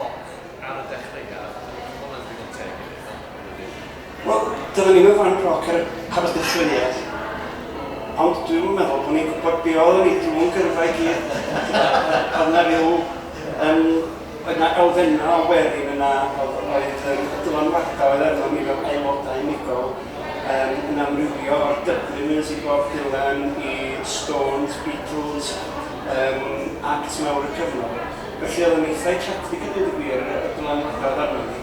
Ond, ar y dechreuad, mae hwnna'n ddigon teg i ddechrau, yn dydi? Wel, doeddwn i'm yn fan proc ar y pabell gychwyniad, ond dwi'm yn meddwl bod ni'n gwybod be' oeddwn ni drw'n gyrfa i gyd. Oedd 'na ryw yym oedd 'na elfennau o werin yna oedd oedd yym y dylanwadau oedd arnon ni fel aelodau unigol yym yn amrywio o'r Dubliners i Bob Dylan i Stones, Beatles, yym act mawr y cyfnod. Felly oedd o'n eitha' eclectic a deud y gwir y y dylanwada' o'dd arnon ni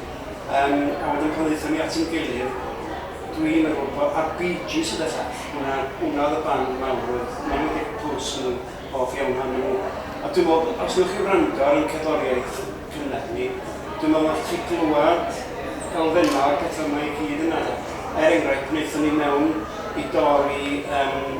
yym a wedyn pan ddaethon ni at ein gilydd dwi'n meddwl bo'... a'r Bee Gees ydell all, hwnna hwnna oedd y band mawr oedd hwnna oedd Dick Bruce o'n i'n hoff iawn ohonyn nhw a dwi'n meddwl os newch chi wrando ar ein cerddoriaeth cynnar ni dwi'n meddwl nathoch chi glywed elfennau o'r petha' 'ma i gyd yna de. Er enghraifft pan aethon ni mewn i dor i yym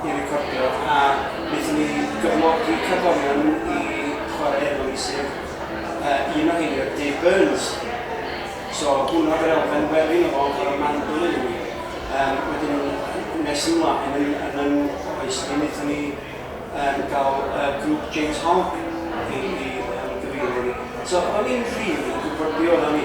i recordio a wnaethon ni gyflogi cerddorion i chwarae efo ni sef yy un o heini oedd Dave Burns so hwnna oedd yr elfen wely yno fo yn chwarae mandolin i ni yym wedyn nes ymlaen yn yn yn oes ni wnaethon ni yym gael yy grŵp James Hogg i i yym gyfeirio ni so o'n ni'm rili yn gwybod be' oeddan ni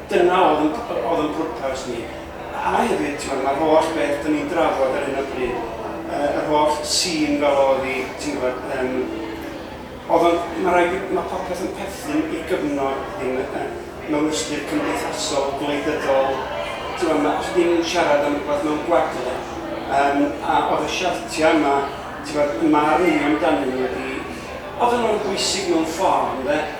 Dyna oedd yn oedd yn pwrpas ni. A hefyd, t'mod, ma'r holl beth 'dan ni'n drafod ar hyn o bryd, yy yr holl sîn fel o'dd 'i, ti'n gwbod, yym, o'dd o'n... Ma' raid fi... Ma' popeth yn perthyn i gyfnod hyn yy yy mewn ystyr cymdeithasol, gwleidyddol, t'mod, ma'... Os ydi'n siarad am rwbath mewn gwagle, yym, a o'dd y siartia' yma, t'mod, 'y marn i amdanyn nhw ydi, oddan nhw'n bwysig mewn ffor, ynde?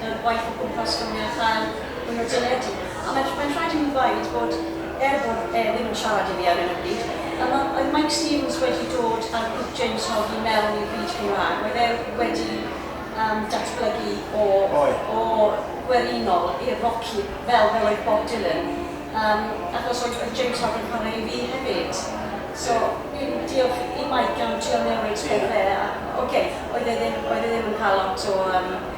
y gwaith o gwmpas ffonio a chael mwy o deledu. A mae'n mae'n rhaid i mi ddweud bod, er bod e ddim yn siarad i fi ar 'yn o bryd, y ma- oedd Mike Stevens wedi dod â'r grŵp James Hogg i mewn i'r byd Cymraeg. Oedd e wedi yym datblygu o... Oedd. ...o gwerinol i'r roci fel fel oedd Bob Dylan. Yym achos oedd oedd James Hogg yn chwarae i fi hefyd. So fi'n diolch i Mike am trio newid pethe a ocê, oedd e ddim oedd e ddim yn cael lot o yym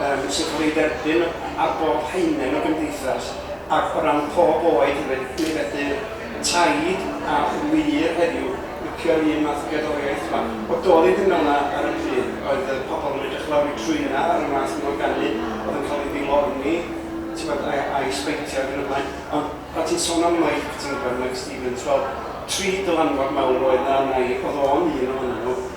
yym sy'n cael ei dderbyn ar bob haenen o gymdeithas ac o ran pob oed hefyd, mi fedir taid a ŵyr heddiw licio'r un math o gerddoriaeth yma. O doedd hi ddim fel yna ar y pryd, oedd y pobl yn edrych lawr eu trwynau ar y math yma o ganu oedd yn cael ei ddilorni tibod a a'i sbeitio ac yn y blaen, ond pan ti'n sôn am Mike ti'n gwybod, Mike Stevens, wel tri dylanwad mawr oedd 'na arna i, oedd o'n un ohonyn nhw.